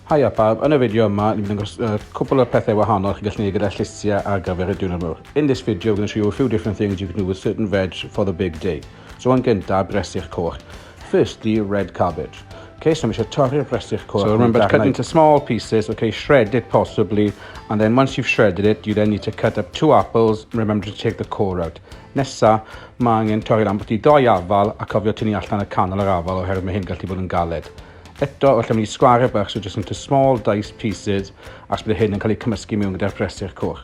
Haia pawb, yn y fideo yma ni'n mynd dangos uh, cwpl o pethau wahanol chi'n gallu gwneud gyda llysiau ar gyfer y diwrnod mawr. In this video we're going to show you a few different things you can do with certain veg for the big day. So yn gyntaf, bresych coch. First the red cabbage. Okay, so mae eisiau torri'r brestyll coch. So remember to cut into small pieces, okay, shred it possibly, and then once you've shredded it, you then need to cut up two apples, remember to take the core out. Nesa, mae angen torri'r ambwti doi afal a cofio tynnu allan y canol yr afal oherwydd mae hyn gallu bod yn galed. Eto, wrth mynd i sgwar y bach, so just into small diced pieces, ac bydd hyn yn cael ei cymysgu mewn gyda'r brestyll coch.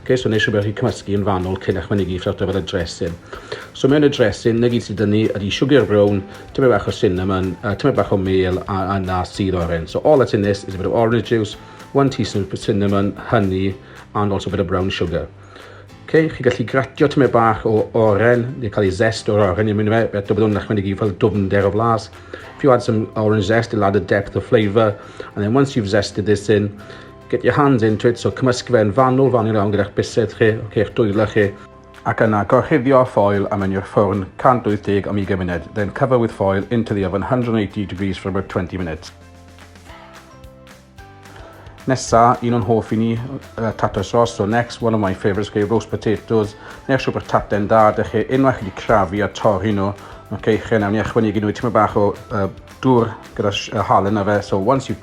Ok, so wnes i wybod chi cymysgu yn fanwl cyn eich mynegu ffrwt ar y dressing. So mewn y dressing, na gyd sydd dynnu ydy sugar brown, tymed bach o cinnamon, uh, tymed bach o meal a, a na sydd oren. So all that's in this is a bit of orange juice, one teaspoon of cinnamon, honey and also a bit of brown sugar. Okay, chi gallu gratio tymed bach o oren, neu cael ei zest o'r oren i mynd fe, eto byddwn yn mynd i fel dwfnder o flas. If you add some orange zest, it'll add a depth of flavour, and then once you've zested this in, Get your hands into it, so cymysgu fe yn fanwl, fanwl iawn gyda'ch bysedd chi, ok, eich dwylo chi, ac yna gorchuddio â ffoil a mynd i'r ffwrn 180 am 20 munud, then cover with foil into the oven 180 degrees for about 20 minutes. Nesa, un o'n hoff i ni, uh, tato sauce. So next, one of my favourites, okay, roast potatoes. Neu'ch siwr bod tate'n da, da chi unwaith chi wedi crafu a torri nhw. Okay, chi nawr ni ychwanegu nhw i tymor bach o uh, dŵr gyda uh, halen na fe. So once you've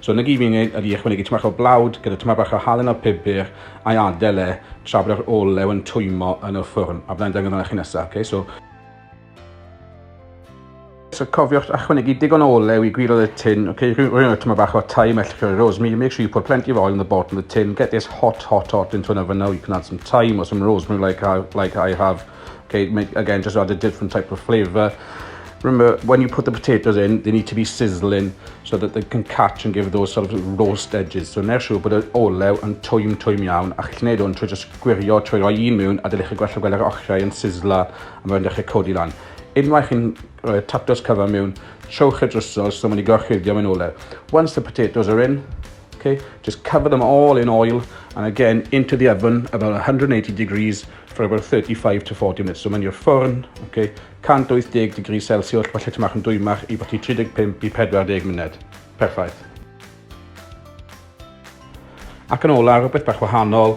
So 'na gyd fi'n neud ydi ychwanegu tymed o blawd gyda tymed bach o halen a pupur a'i adael e tra bod yr olew yn twymo yn y ffwrn a byddai'n dangos hwnna i chi nesaf, okay? So, So cofiwch ychwanegu digon o olew i gwiriodd y tin, okay, rhywun o tyma bach o thyme, ellwch o'r rosemary, make sure you put plenty of oil in the bottom of the tin, get this hot, hot, hot into an oven now, you can add some thyme or some rosemary like I, like I have. 'K mae again jus add a different type of flavour. Remember when you put the potatoes in they need to be sizzling so that they can catch and give those sort of roast edges. So neu' siŵr bod yr olew yn twym twym iawn a chi'n neud hwn trwy jyst gwirio trwy roi un mewn a dylech chi gwella gweld yr ochrau yn sizzla a mae'n dechrau codi lan. Unwaith chi'n rhoi tatws cyfan mewn, trowch y drysor so mae'n ei gorchuddio mewn olew. Once the potatoes are in, Ok just cover them all in oil and again into the oven about 180 degrees for about 35 to 40 minutes. So mae'n i'r ffwrn, ok, 180 degrees Celsius, falle ti'n mach yn dwymach i bod i 35 i 40 munud. Perffaith. Ac yn ola, rhywbeth bach wahanol,